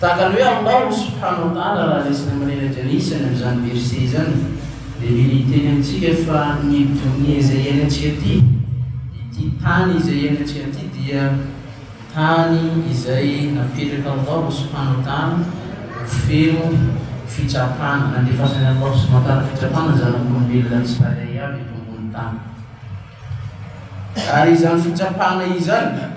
Tahaka ny hoe aminao no Subhanahu wa Ta'ala raha resiny amin'ny reraka anisany amin'izany verset izany dia mila hiteny amintsika fa ny Donia izay iainantsika ity, ity tany izay iainantsika ity dia tany izay napetraka Allahu Subhanahu wa Ta'ala ho feno fitsapana, nandefasan'i Allahu Subhanahu wa Ta'ala fitsapana ny zanak'olombelona tsirairay avy eto ambonin'ny tany. Ary izany fitsapana izany.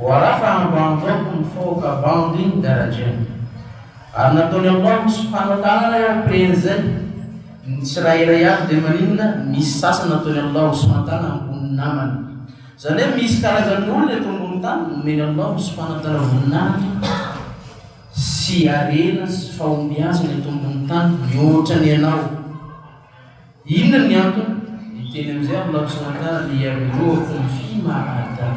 Voaraha fa andro andro aho no mifaoka bandy iny gardiens ary nataony aminao ny tsy mpanao tanana eo preny zay ny tsirairay avy de maninona misy sasany nataony aminao ny tsy mantana ambony namany zany hoe misy karazany olona eto ambony tany nomeny aminao ny tsy mpanantana voninahitra sy arena sy fahombiazana eto ambony tany mihoatra ny anao Inona ny antony? Ny teny amin'izay amin'ny laoniny ankarana dia Ianareo akoho mify mahagaga.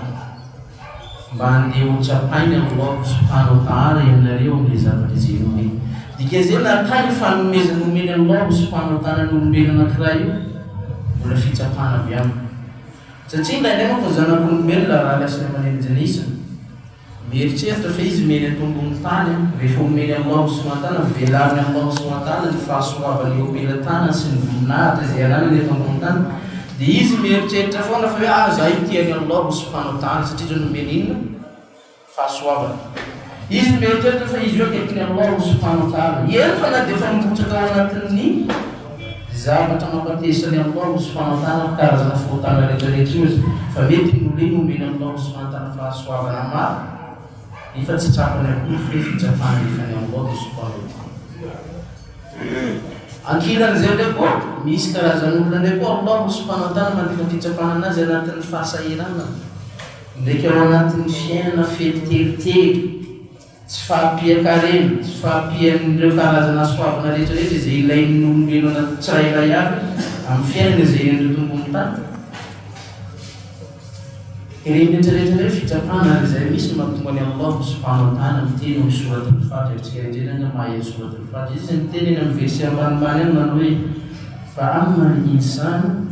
Mba handeha ho tsapainy amin'ny laoniny hanao tara ianareo amin'ilay zavatra jereny. Dikan'izay na kay io fanomezana omeny an'i laoniny mpanao tara ny olombelona anankiray io, mbola fitsapana avy aminy. Satria indraindray manko ny zanak'olombelona raha lasa eo aman'endriny isany. Mieritreritra ve izy miely eto ambony tany rehefa omeny amin'ny maha Osoan-tana, velariny amin'ny maha Osoan-tana ny fahasoavany eo am-pelatanany sy ny voninahitra izay ananany eto ambony tany, dia izy mieritreritra foana fa hoe aza ahy ity any Allah ho Sompano tany satria izao nomeny inona? fahasoavana. Izy mieritreritra fa izy io akekin'i Allah ho Sompano tana, eny fa na dia efa mirotsaka ao anatin'ny. Ny zavatra mampateza ny aminao no tsy famantana ny karazana fahotana rehetrarehetra io aza fa mety ny olona iny omeny aminao ny tsy mahantana fahasoavana maro nefa tsy trapany akory fe fitsapana efa ny aminao dia sopanao. Ankilan'izay indray koa, misy karazan'olona indray koa aminao no tsy famantana mandefa fitsapana anazy anatin'ny fahasahiranana ndraiky ao anatin'ny fiainana feno teritery. Tsy fahampian-karena, tsy fahampian'ireo karazana soavina rehetra rehetra izay ilain'ny olombelona tsirairay avy amin'ny fiainana izay ian'ireo tompony tany. Ireny rehetra rehetra ireny fitsapana ary izay misy no mahatonga an'i Allah ho sompahamantarana ny teny ao amin'ny Sourate Al-Fat, Endrika indrindra ny maha elo Sourate Al-Fat. Izy miteny eny amin'ny verset ambanimbany any manao hoe, Fa amma al-insan,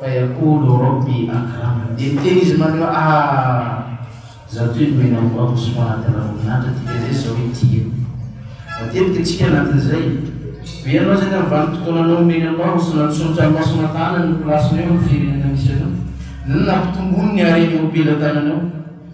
Faiakoho no robe ankarama dia miteny izy maneo ah za toy ny mena ho aho soa anaty ranomanitra dika zay zao i tia matetika tsika anatin'izay ve ianao zay tamin'ny vanim-potoananao omeny anao ho sona tsonitra ny maso matanany ny plasinao eo amin'ny firenena misy anao nona mpitomboany ny hareny eo am-pelatananao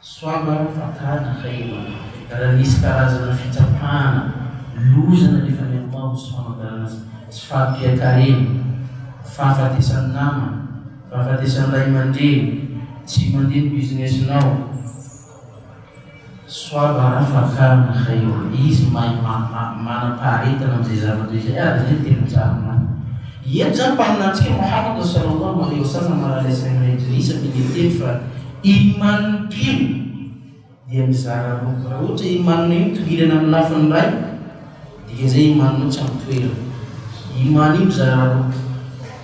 Soava fa tady kay e! Raha nisy karazana fitsapana, loza nalefa any amboa ho tsy fanambarana azy, tsy fahampian-karena, fahafatesan'ny namana, fahafatesan'ny ray aman-dreny, tsy mandeha ny business-nao, soava ra fakana kay e! Izy mahay manam-paharetana amin'izay zavatra izay ary izay no tena mijanona any. Eto izany mpaminany antsika no hafaka atao salama amin'ireo zaza marary saina indrisy amin'ny miteny fa Iman mpino dia mizara roa, raha ohatra iman-nao io mitoriana amin'ny lafiny iray, dikan'izay iman-nao tsy amin'ny toerany. Iman io mizara roa,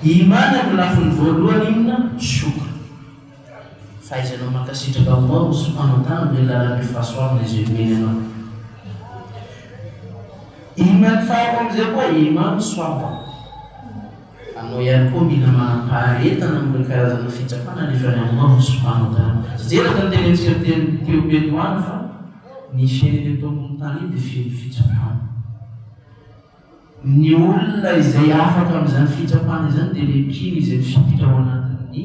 iman amin'ny lafiny voalohany inona? Shukr, fahaizanao mankasitraka Allah sy manotany amin'ilay lalan'ny fahasoavana izay omeny anao. Iman faharoa amin'izay koa iman swabr, Anao ihany koa mila manam-paharetana amin'ireo karazana fitsapana nefa ny anao no tsy mpanao tany. Fijery eto ny tenentsika niteny teo Pedroana fa ny firenena eto ambony tany dia feno fitsapana. Ny olona izay afaka amin'izany fitsapana izany dia le mpino izay mifikitra ao anatin'ny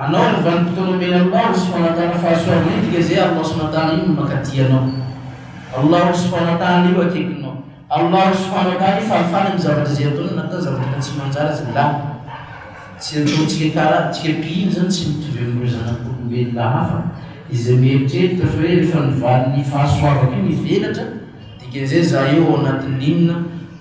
Anao ny vanim-potoana omeny Allah ny Subhanatala fahasoavana iny dia izay Allah Subhanatala iny no makaty anao Allah ny Subhanatala io akekinao Allah ny Subhanatala io fahafahany amin'ny zavatra izay ataonao na ataonao zavatra ka tsy manjary aza lany tsy ataontsika karaha tsika pihina izany tsy mitovy amin'ireo zanak'olombelona hafa izay mieritreritra fa hoe rehefa ny valin'ny fahasoavako io mivelatra dikan'izay za eo ao anatin'ny inona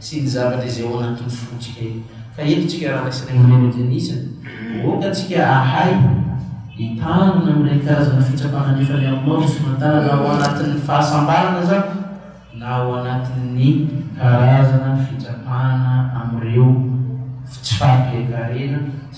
sy ny zavatra izay ao anatin'ny fontsika io. Fa eto tsika Rada sy Raiamandreny Denise aoka tsika ahay hitandrina amin'ireny karazana fitsapana nefa ny aminao dia somantalana na ao anatin'ny fahasambarana aza na ao anatin'ny karazana fitsapana amin'ireo tsy fahampiakarena.